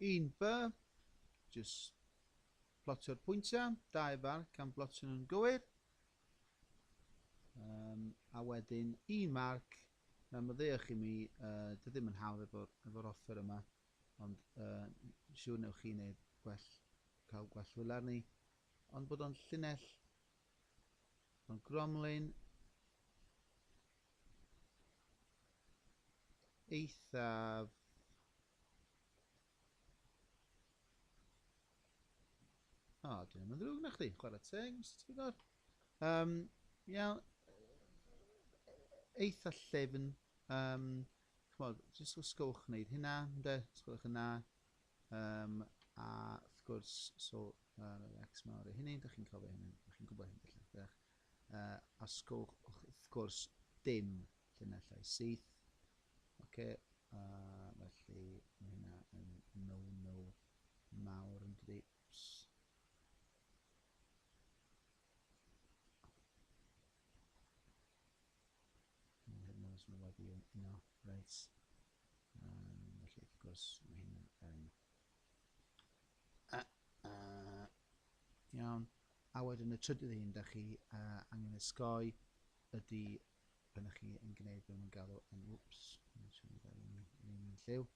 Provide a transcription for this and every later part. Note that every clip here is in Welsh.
1 by, jyst plotio'r pwyntiau, 2 far, gan blotio nhw'n gywir, um, a wedyn 1 marc, na myddeuwch i mi, uh, dwi ddim yn hawdd efo'r efo offer yma, ond uh, siŵr newch chi wneud gwell, cael gwell wylar ni, ond bod o'n llinell Mae Gromlin eithaf O, oh, dyn nhw'n ddrwg na chdi, chwarae teg, Mr Tigor. Um, iawn, eitha llefn. Um, Chymod, jyst os gywch wneud hynna, ynde? Os gwelwch yn dda. Um, a wrth gwrs, so, uh, X mawr i hynny, da chi'n cofio hynny, da chi'n gwybod hynny, lle, da. Uh, a sgwch, wrth gwrs, dim llunellau syth. Oce, okay, uh, felly mae hynna yn no-no mawr yn dydi. Mae hyn yn sylweddol yn un o reis. Felly, wrth gwrs, mae hyn yn... Um, uh, uh, iawn. A wedyn y trydydd un, da chi uh, angen ysgoi ydy pan ydych chi yn gwneud beth mae'n galw yn wps, yn siŵr bod e'n un lliw,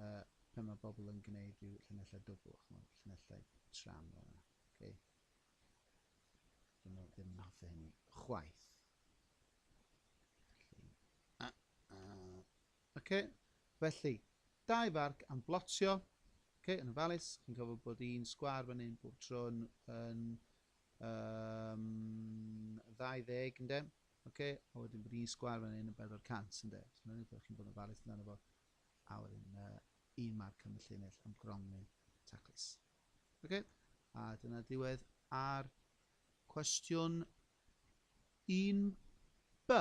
uh, pan mae bobl yn gwneud rhyw llunellau dwbl, chymod, llunellau tram fel yna. Okay. Dyn nhw ddim yn hoffi hynny chwaith. Felly, a, a, okay. Felly, dau farc am blotio. Okay, yn ofalus, chi'n cofio bod un sgwar fan hyn bob tro yn, yn um, 20, ynddo? Okay, a wedyn bod un sgwar fan hyn yn 400, ynddo? So, mae'n rhaid chi'n bod yn ofalus amdano fo. A wedyn, uh, un marc am y llinell am grongnyn taclus. Oce, a dyna diwedd ar cwestiwn 1B.